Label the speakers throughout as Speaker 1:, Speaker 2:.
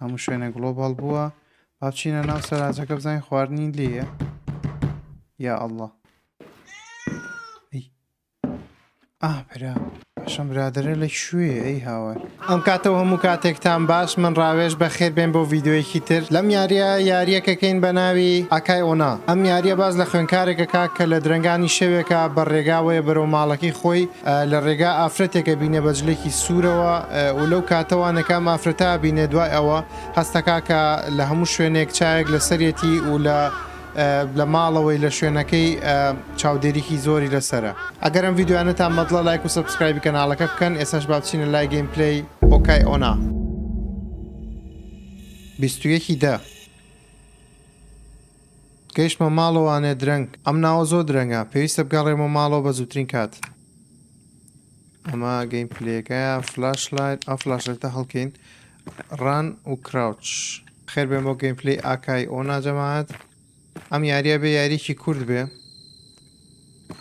Speaker 1: هەموو شوێنە گڵۆباڵ بووە با بچینە ناو سەراجەکە بزانین خواردنی لێیە یا ئەڵڵا ئاه برا باشم برادرە لە کوێ ئەی هاوار ئەم کاتەوە هەموو کاتێکتان باش من ڕاوێژ بە خێر بێن بۆ ڤیددیوەیەکی تر لەم یاریە یاریەکەکەین بە ناوی ئاکای ئۆنا ئەم یاریە باز لە خوێنکارێکەکە کە لە درنگانی شەوێکە بە ڕێگاوەیە بەرەو ماڵەکەی خۆی لە ڕێگا ئافرەتێک ئەبینێ بە جلێکی سوورەوە و لەو کاتەوە نەکا ئەم ئافرەتە ئەبینێ دوای ئەوە هەست دەکا کە لە هەموو شوێنێک چاوێک لەسەرەتی و لە لە ماڵەوەی لە شوێنەکەی چاودێریی زۆری لەسەرە ئەگەر ئەم ڤیددیوانەتان مەدڵە لایک و سبسکرایبی کەناڵەکە بکەن ئێسش با بچینە لای گەیم پلەی ئۆکای ئۆنا بیستویەکی دە. گەیشتمە ماڵەوە ئەنێ درەنگ. ئەم ناوە زۆر درەنگە پێویستە بگەڕێمەوە ماڵەوە بە زووترین کات. ئەمە گەیم پلەکەیە فلاش لایت ئەو فلاشێتە هەڵکەین ڕان و کراوچ خێر بێن بۆ گەیم پلی ئاکای ئەو ناجەماعات ئەم یاریە بێ یاریکی کورد بێ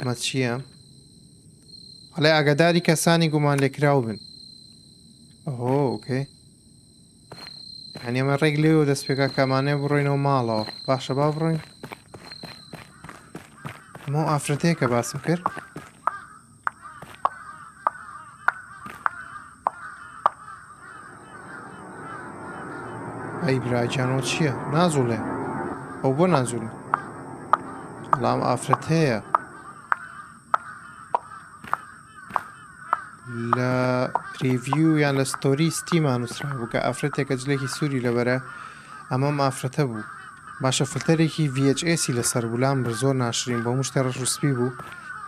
Speaker 1: مە چییە ئەڵێ ئاگاداری کەسانی گومان لێکراو بن ئەهۆکەی هەنێمە ڕێک لێ و دەست پێکا کامانێ بڕۆینەوە ماڵەوە باشە با بڕۆین ئەمە ئافرەتەیە کە باسم کرد ئەی براجانەوە چییە نازوڵێ ئەو بۆ نازوولە بەڵام ئافرەت هەیە لە پریڤیو یان لە ستۆری ستیمان نووسرا بووکە ئافرەتێکە جلێکی سووری لەبەرە ئەمەم ئافرەتە بوو باشە فلتەرێکی VHSی لەسەر بولام بر زۆر ناشرین بۆ مشتە ڕەش و سپی بوو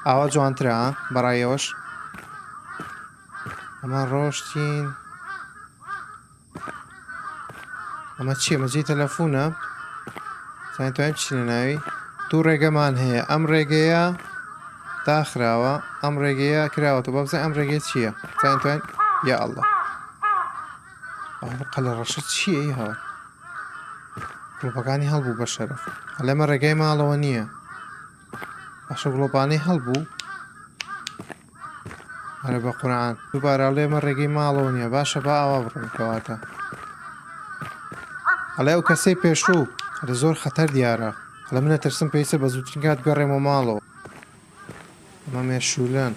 Speaker 1: ئاوا جوانترە بەڕایەوەش ئەمە ڕۆشتین. ئەمە چیە مەجی تەلەفونە توانین چینە ناوی دوو ڕێگەمان هەیە ئەم ڕێگەیە داخراوە ئەم ڕێگەیە کراوەەوە بەبزای ئەم ڕێگەی چییە توانین توانین یا ئەله قەلە ڕەشە چیە هەوە گڵۆپەکانی هەڵبوو بە شەرف لەمە ڕێگای ماڵەوە نییە باشە گڵۆپانەی هەڵبوو ئەرە بە قورعان دووبارەڵێ ئەمە ڕێگەی ماڵەوە نییە باشە با ئاوا بڕم کەواتە ئەڵێ ئەو کەسەی پێشوو لە زۆر خەتەر دیارە لە منە ترسم پێیسە بە زووترین کات گەڕێمە ماڵەوە ئەمە مێشولەن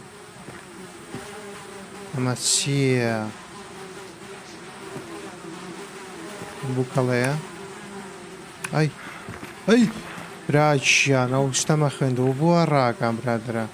Speaker 1: ئەمە چییە؟ بووکەڵەیە ئەی ئەی براکیشیانە و شتەمە خوێندەوە بووە ڕاکان برادرە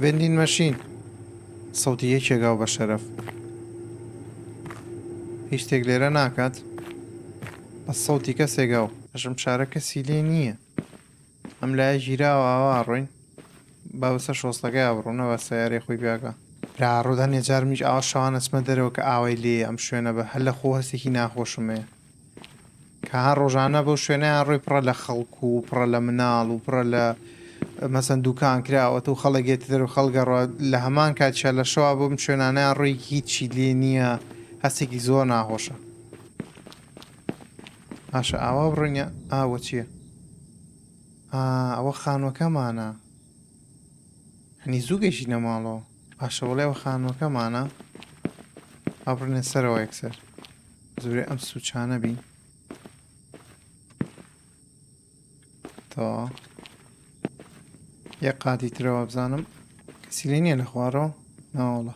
Speaker 1: ڤێندین مەشین سەوتی یەکێگا و بە شەرەف هیچ تێک لێرە ناکات بە سەوتی کەسێگا و ئەشم شارە کەسی لێ نییە ئەم لای ژیراوە ئاوا ڕۆین با بەسە شۆستەکەی بڕوونە بە سیارێ خۆی بیاکە برا ڕوودان یەجارمیش ئاوا شەوانە چمە دەرەوە کە ئاوای لێ ئەم شوێنە بە هەر لە خۆ هەستێکی ناخۆشمەیە کە هەر ڕۆژانە بەو شوێنەیان ڕۆی پڕە لە خەڵک و پڕە لە مناڵ و پڕە لە مەسەن دوکان کراوەت و خەڵەگێتی دەر و خەڵگەڕە لە هەمان کاتشە لە شەوا بۆم شوێنانیان ڕووی هیچی لێ نییە هەستێکی زۆر ناخۆشە هاشە ئاوا بڕینە ئاوە چییە ئەوە خانوەکەمانە هەنی زوو گەشی نەماڵەوە باشەوەڵێەوە خانوەکەمانە ئابڕێنە سەرەوە یەکسەر زورێ ئەم سوچانە بین تا یە قاتی ترەوە بزانم کەسی لێ نییە لە خوارەوە ناوەڵە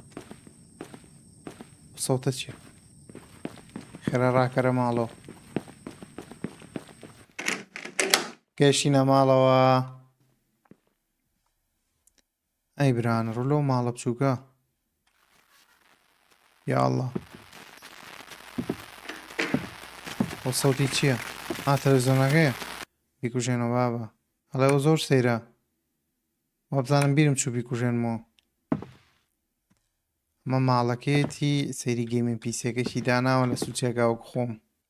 Speaker 1: سەوتە چیە خێرا ڕاکەرە ماڵەوە گەشتی نەماڵەوە ئەی بران ڕوو لەو ماڵە بچووکە یا الله ئەو سەوتی چییە؟ ئا تەلەڤزیۆنەکەیە بیکوژێنەوە بابە هەڵێ ئەو زۆر سەیرە وابزانم بیرم چوو بیکوژێنمەوە ئەمە ماڵەکەیەتی سەیری گەیمین پیسەکەشی داناوە لە سوچێکاوەک خۆم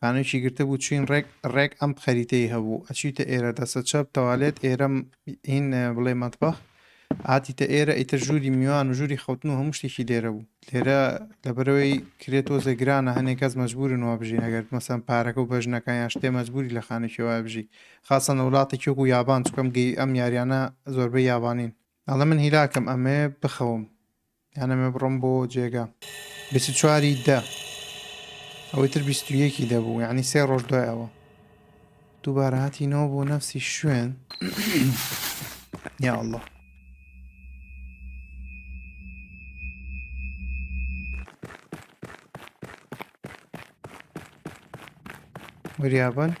Speaker 1: خانوویەکی گرتبوو چوین ڕێک ڕێک ئەم خەریتەی هەبوو ئەچیتە ئێرە دەسە چەپ تەوالێت ئێرەم هین بڵێ مەتبەخ ئاتیتە ئێرە ئیتر ژووری میوان و ژووری خەوتن و هەموو شتێکی لێرە بوو لێرە لەبەرەوەی کرێت تۆزێ گرانە هەنێک کەس مەجبورن وا بژین ئەگەر مەسەن پارەکە و بەژنەکان یا شتێ مەجبوری لە خانێکی وای بژی خاصەن وڵاتی کێک و یابان چکەم گەی ئەم یاریانە زۆربەی یابانین ئەڵە من هیلاکم ئەمێ بخەوم یان ئەمێ بڕۆم بۆ جێگا. بیست و چوار ی دە ئەوەی تر بیست و یەکی دەبوو یعنی سێ ڕۆژ دوای ئەوە دووبارە هاتینەوە بۆ نەفسی شوێن یا الله وریابن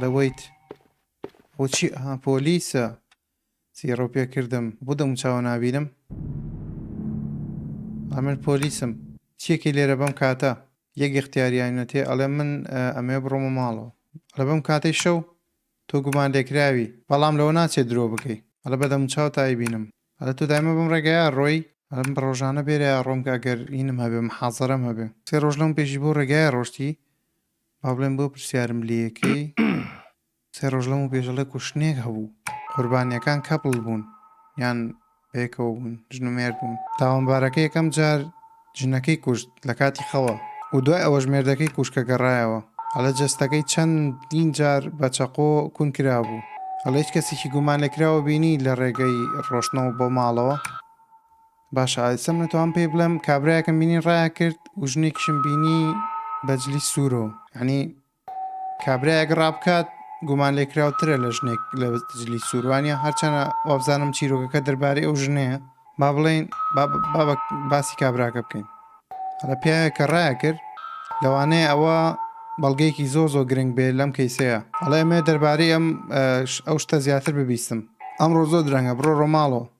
Speaker 1: لەوەیت خۆ چی ئەها پۆلیسە زیڕەو پێ کردم بۆ دەموچاوە نابینم ئەمن پۆلیسم چیەکەی لێرە بەم کاتە یەک یختیاریان نەتێ ئەڵێ من ئەمێ بڕۆمە ماڵەوە ئەڵە بەم کاتەی شەو تۆ گومان لێکراوی بەڵام لەوە ناچێت درۆ بکەی ئەڵە بە دەموچاو تای بینم ئەلە تۆ دایمە بم ڕێگەیە ڕۆی ئەم بە ڕۆژانە بێرە ڕۆمکە گەر ئینم هەبێ محازرەم هەبێ سێ ڕۆژ لەم پێشی بۆ ڕێگایە ڕۆشتی با بڵێم بۆ پرسیارم لێکەی سێ ڕۆژ لەمەو پێش ئەڵێ کوشنێک هەبوو قوربانیەکان کەپڵ بوون یان بەیەکەوە بوون ژن و مێرد بوون تاوانبارەکە یەکەم جار ژنەکەی کوشت لە کاتی خەوە و دوای ئەوەش مێردەکەی کوشت کە گەڕایەوە ئەڵێ جەستەکەی چەندین جار بە چەقۆ کون کرابوو ئەڵێ هیچ کەسێکی گومانلێکراوە بینی لە ڕێگەی ڕۆشتنەوە بۆ ماڵەوە؟ باشە ئای چەم نەتوام پێی بڵێم کابرایەکم بینی ڕایە کرد و ژنێکیشم بینی بەجلی سوورۆ عنی کابرایەک ڕابکات گومان لێکراوترە لە ژنێک لە جلی سووروانە هەرچەنە وابزانم چیرۆکەکە دەربارەی ئەو ژنەیە با بڵێن باسی کابراکە بکەین لە پیاوێک کە ڕایە کرد لەوانەیە ئەوە بەڵگەیەکی زۆر زۆر گرنگ بێت لەم کەیسەیە ئەڵێ ئەمێ دەربارەی ئەم ئەو شتە زیاتر ببیستم ئەمڕۆ زۆر درەنگە بڕۆ ڕۆماڵەوە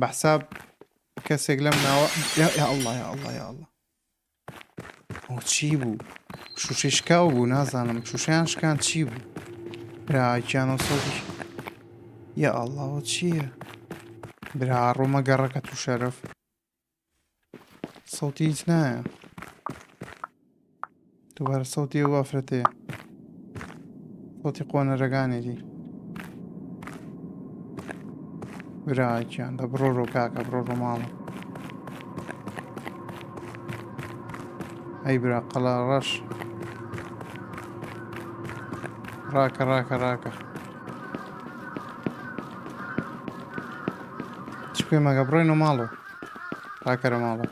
Speaker 1: بەحساب کەسێک لەم ناوە یا الله یا الله یا الله ئەو چی بوو شوشەی شکاو بوو نازانم شوشیان شکان چی بوو براکیانەوە سەوتی یا ئەڵاوە چییە برا ڕۆمە گەڕەکە تو شەرف سەوتی هیچ نایە دووبارە سەوتی و ئافرەتەیە سەوتی قۆنەرەگانێتی براکیان دە بڕۆ ڕۆ کاکە بڕۆ ڕۆ ماڵە ئەی برا قەڵا ڕەش ڕاکە ڕاکە ڕاکە چ بکەین مەگە بڕۆین و ماڵۆ ڕاکەرە ماڵۆ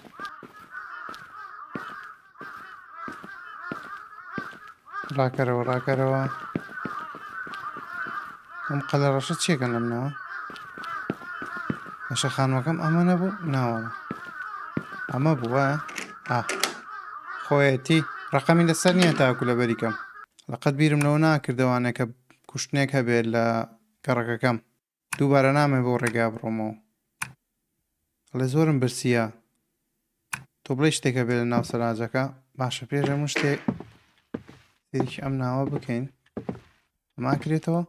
Speaker 1: ڕاکەرەوە ڕاکەرەوە ئەم قەلە ڕەشە چێکەن لەمنەوە ئەشە خانوەکەم ئەمە نەبوو ناوە ئەمە بووە ئا خۆیەتی ڕقەمی لەسەر نییە تاکو لە بەریکەم لەقەت بیرم لەوە ناکردەوانێکە کوشتنێک هەبێت لە گەڕەکەکەم دووبارە نامێ بۆ ڕێگا بڕۆمەوە لە زۆرم برسیە تۆ بڵێ شتێکە بێت لە ناو سەراجەکە باشە پێش هەموو شتێک سێریکی ئەم ناوە بکەین ماکرێتەوە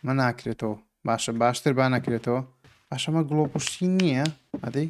Speaker 1: مە ناکرێتەوە باشە باشتر با نەکرێتەوە باشەمە گڵۆ پشتی نییە ئەدەی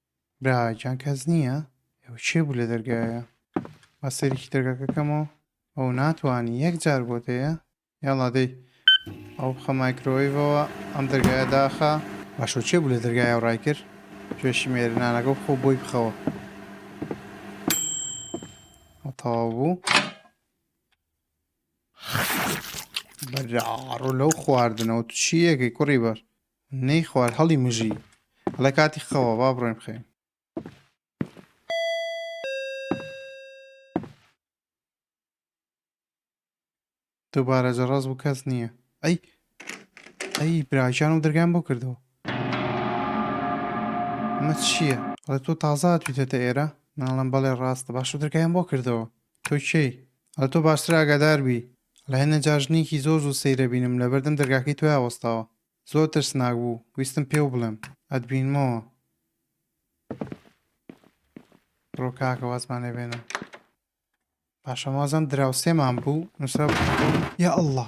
Speaker 1: برا گیان کەس نییە ئەو چێ بوو لە دەرگایە با سەرێکی دەرگاکەکەمەوە ئەو ناتوانانی یەک جار بۆت هەیە یاڵا دەی ئەو خە مایکرۆیڤەوە ئەم دەرگایە داخە باشۆ چێ بوو لە دەرگایە و ڕای کرد توێشی مێرنانەکە و خۆ بۆی بخەوە تەواو بوو بەراڕۆ لەو خواردنەوە تو چیەکەی کوڕی بەر نەی خوار هەڵی مژی. ئەڵێ کاتی خەوە با بڕۆین بخەوین. دووبارە جەڕەس بوو کەس نییە ئەی ئەی براکیان و دەرگان بۆ کردەوە ئەمە چییە ڕێ تۆ تازە تویتێتە ئێرە ناڵم بەڵێ ڕاستە باش و دەرگایان بۆ کردەوە تۆ چی ئە تۆ باشتر ئاگاداربی ڕێحانە جا ژنێکی زۆر زوو سەیرەبینم لەبەردەم دەرگاکەی تۆیا وەستاوە زۆر ترسناک بوو ویستم پێو بڵێم ئەتبینمەوە بڕۆ کاکە وازمان لێ بێنە پاشان وازم دراوسێمان بوو نووسرا یا اللە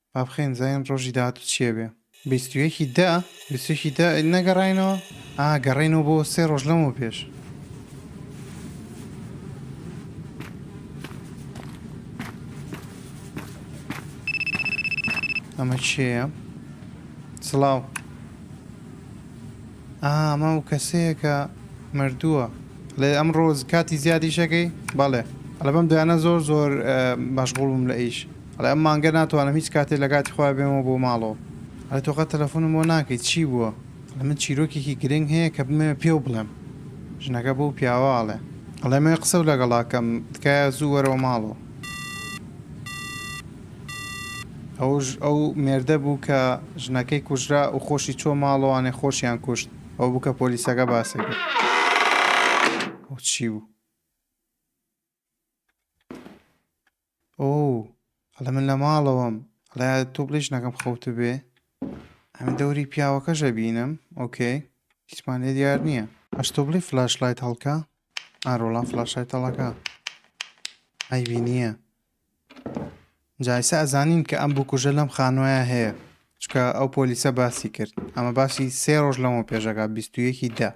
Speaker 1: با بخەین زین ڕۆژی داهاتوو چیە بێ. بیست و یەکی دە بیست و یەکی دە نەگەڕاینەوە ئا گەڕێینەوە بۆ سێ ڕۆژ لەمەو پێش. ئەمە چێە سڵاو ئامە و کەسەیەکە مردووە لێ ئەم ڕۆز کاتی زیادیشەکەی بەڵێ ئەلبەم دویانە زۆر زۆر مەشغوڵم لە ئیش ئەڵێ ئەم مانگە ناتوانم هیچ کاتێ لەکاتی خۆیا بێمەوە بۆ ماڵەوە ئەڵێ تۆ قەت تەلەفونم بۆ ناکەی چی بووە ئەڵێ من چیرۆکێکی گرنگ هەیە کە بمەوێ پێو بڵێم ژنەکە بەو پیاوە ئەڵێ ئەڵێ مەوێ قسەو لەگەڵا کەم تکایە زوو وەرەوە ماڵەوە ئەوژ ئەو مێردە بوو کە ژنەکەی کوژرا و خۆشی چۆ ماڵەوانێ خۆشیان کوشت ئەو بوو کە پۆلیسەکە باسێ کرد چی بوو. ئۆو ئەڵێ من لە ماڵەوەم ڵێ تۆ بڵیش نەکەم خەوت بێ ئەم دەوری پیاوەکەش ئەبینم ئۆکەی هیچمان لێ دیار نییە ئەش تۆ بڵی فلاش لایت هەڵکە ئارۆڵا فلاشای تەڵەکە ئایبی نییە جا ئیسە ئەزانین کە ئەم بکوژە لەم خانوایە هەیە چکە ئەو پۆلیسە باسی کرد ئەمە باسی سێ ڕۆژ لەمە پێشەکە بیستویەکی دە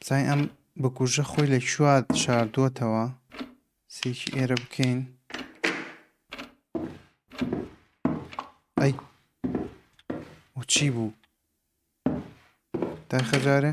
Speaker 1: زای ئەم بکوژە خۆی لە کوات شاردووەتەوە سێکی ئێرە بکەین ئەی چی بوو داخەجارێ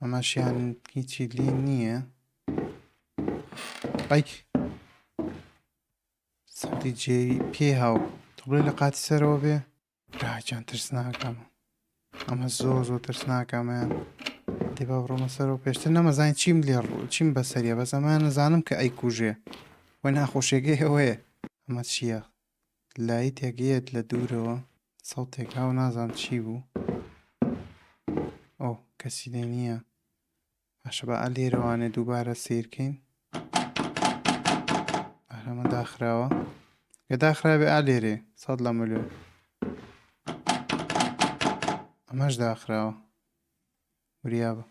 Speaker 1: ئەمەشیان هیچی لی نییە ئەیک سەدی جێ پێی هاو تڵێ لە قاتی سەرەوە بێ براجان ترسناکەم ئەمە زۆر زۆر ترسناکەمیان دیبا بڕۆمە سەرەوە پێشتر نەمەزانین چیم لێ ڕوو چیم بەسەریە بەس ئەمان نەزانم کە ئەی کوژێ وە ناخۆشیەکەی ئەوەیە ئەمە چییە لای تێگەیەت لە دوورەوە سەوتێک هاو نازام چی بوو ئەو کەسی لێ نییە باشە بە ئالێرەوانێ دووبارە سیرکەین ئەرەمە داخراوە گە داخراوێ ئالێرێ سەد لە ملیۆن ئەمەش داخراوە وریا بە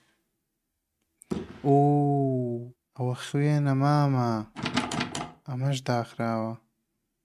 Speaker 1: ئو ئەوە خوێنە مامە ئەمەش داخراوە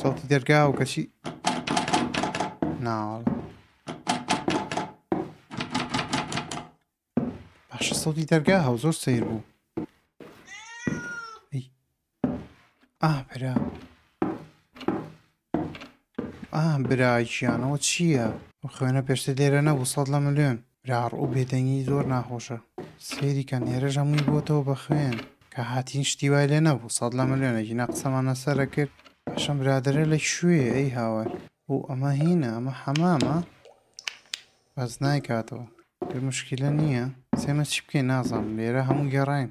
Speaker 1: سەڵتی دەرگا و کەچی ناوەڵ باشە سەڵتی دەرگا هەو زۆر سیر بوو ئا برا ئا براکیانەوە چییە؟ خوێنە پێشتر لێرە نەبوو سەد لە ملیۆن برا ڕ و بێدەنگی زۆر ناخۆشە سەیری کە نێرەش هەمووی بۆتەوە بە خوێن کە هاتین شتی وای لێ نەبوو سەد لە ملیۆنە گینا قسەمانە سەرە کرد پاشان برادەرە لە کوێ ئەی هاوار و ئەمە هینە ئەمە حەمامە بەس نایکاتەوە پێ مشکلە نییە سێمە چی بکەین نازانم لێرە هەموو گەڕین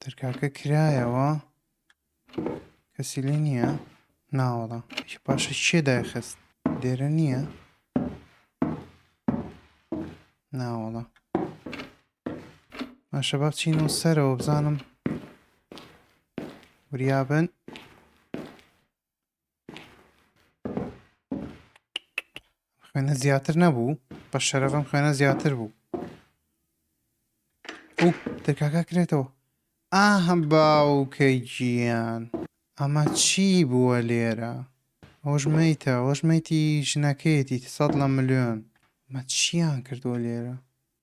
Speaker 1: دەرکاکە کرایەوە کەسی لێ نییە ناوەڵە پاشە چێ داخست دێرە نییە ناوەڵە ماشە با چین و سەرەوە بزانم وریابن خوێنە زیاتر نەبوو بە شەرەفم خوێنە زیاتر بوو ئەو دەرکاکە کرێتەوە ئاهەم باوکە گیان ئەمە چی بووە لێرە ئەوش میتە ئەوش میتی ژنەکەیەتی سەد لە ملیۆن مە چیان کردووە لێرە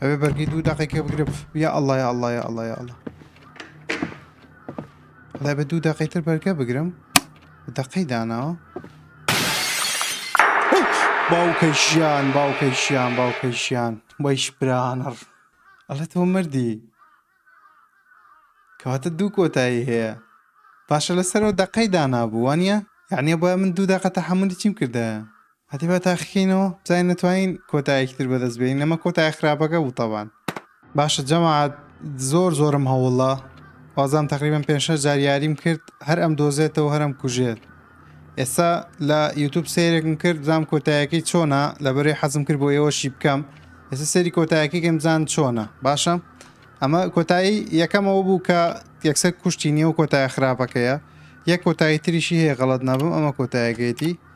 Speaker 1: ئەوێ بەرگی دوو دقیقە بگرە یا ئەڵڵا یا ئەڵڵا یا ئەڵڵا یا ئەڵڵا خدای بە دوو دقی تر بەرگە بگرم دقی داناوە باوکە ژیان باوکە ژیان باوکە ژیان بەیش برانەڕ ئەڵە تۆ مردی کەواتە دوو کۆتایی هەیە باشە لەسەرەوە دقی دانابوو وانە یعنی بۆ من دوو دقە تەحملی چیم کردە هەتیو با تاقیکەینەوە بزانین نەتوانین کۆتایەکی تر بەدەست بێنین ئەمە کۆتای خراپەکە بوو تەوان باشە جەماعەت زۆر زۆرم هەوڵا وازام تقریبان پێ شەش جار یاریم کرد هەر ئەم دۆزێتەوە هەرم کوژێت ئێستا لە یوتوب سیرێکم کرد بزانام کۆتایەکەی چۆنا لەبەرەی حەزم کرد بۆ ئێوەشی بکەم ئێستا سەری کۆتایەکەی کەم بزان چۆنا باشە ئەمە کۆتایی یەکەمەوە بوو کە یەکسەر کوشتی نیە و کۆتای خراپەکەیە یەک کۆتایی تریشی هەیە غەڵت نابم ئەمە کۆتایەکەیەتی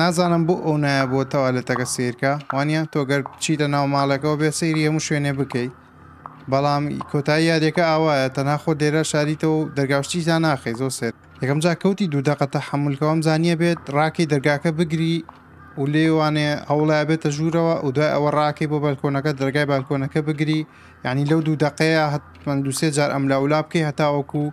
Speaker 1: نازانم بۆ ئەو نایابووە تەوالێتەکە سەیرکە وانە تۆ گەر بچیتە ناو ماڵێکەوە بێ سەیری هەموو شوێنێ بکەیت بەڵام کۆتایی یاریەکە ئاوایە تەنها خۆ دێرا شاریتەوە و دەرگاشتی تا ناخی زۆر سێر یەکەم جا کەوتی دوو دەقە تەحملکەوەم زانیە بێت ڕاکەی دەرگاکە بگری و لێوانێ هەوڵای بێتە ژوورەوە و دوای ئەوە ڕاکەی بۆ بالکۆنەکە دەرگای بالکۆنەکە بگری یعنی لەو دوو دەقەیە هەتمەند دووسێ جار ئەملاولا بکەی هەتاوەکو و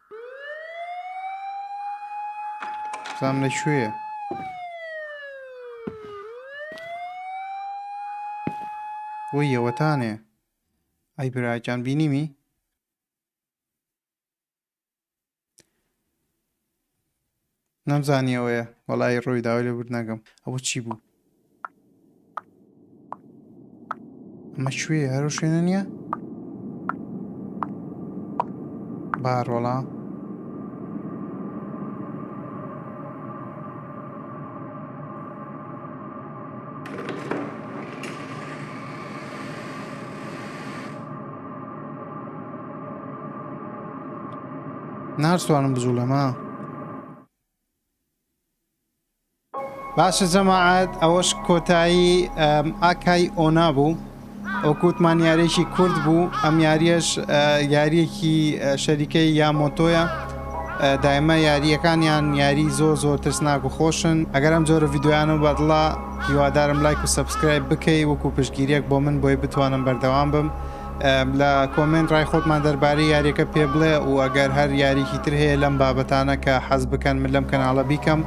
Speaker 1: سام لە کوێیە بۆ یەوەتانێ ئەی براکان بینیمی نەمزانی ئەوەیە وەڵی ڕۆی داوای لە برد ناگەم ئەوە چی بوو ئەمە شوێ هەرو شوێنە نییە بارۆڵا نارسوانم بجوڵێمە باشە جەماعات ئەوەش کۆتایی ئاکای ئۆنا بوو ئەوکوتمان یاریێکی کورد بوو ئەم یاریەش یاریەکی شەریکەی یا مۆتۆیە دایمە یاریەکانیان یاری زۆر زۆر ترسناک و خۆشن ئەگەر ئەم جۆرە یددیویانە بەدڵە هیوادارم لایک و سەبسکرایب بکەی وەکو پشتگیریەک بۆ من بۆی بتوانم بەردەوام بم لە کۆمنت ڕای خۆتمان دەربارەی یاریەکە پێ بڵێ و ئەگەر هەر یاریکی تر هەیە لەم بابەتانە کە حەز بکەن من لەم کەناڵە بیکەم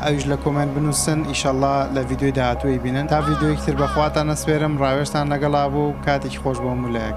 Speaker 1: ئەوش لە کۆمنت بنووسن ئیشەڵا لە یددیوی داهاتوی بینن تا یددیویکتر بەخواتان نەسپێرم ڕاوێشتان لەگەڵا بوو کاتێکی خۆش بۆ مولەک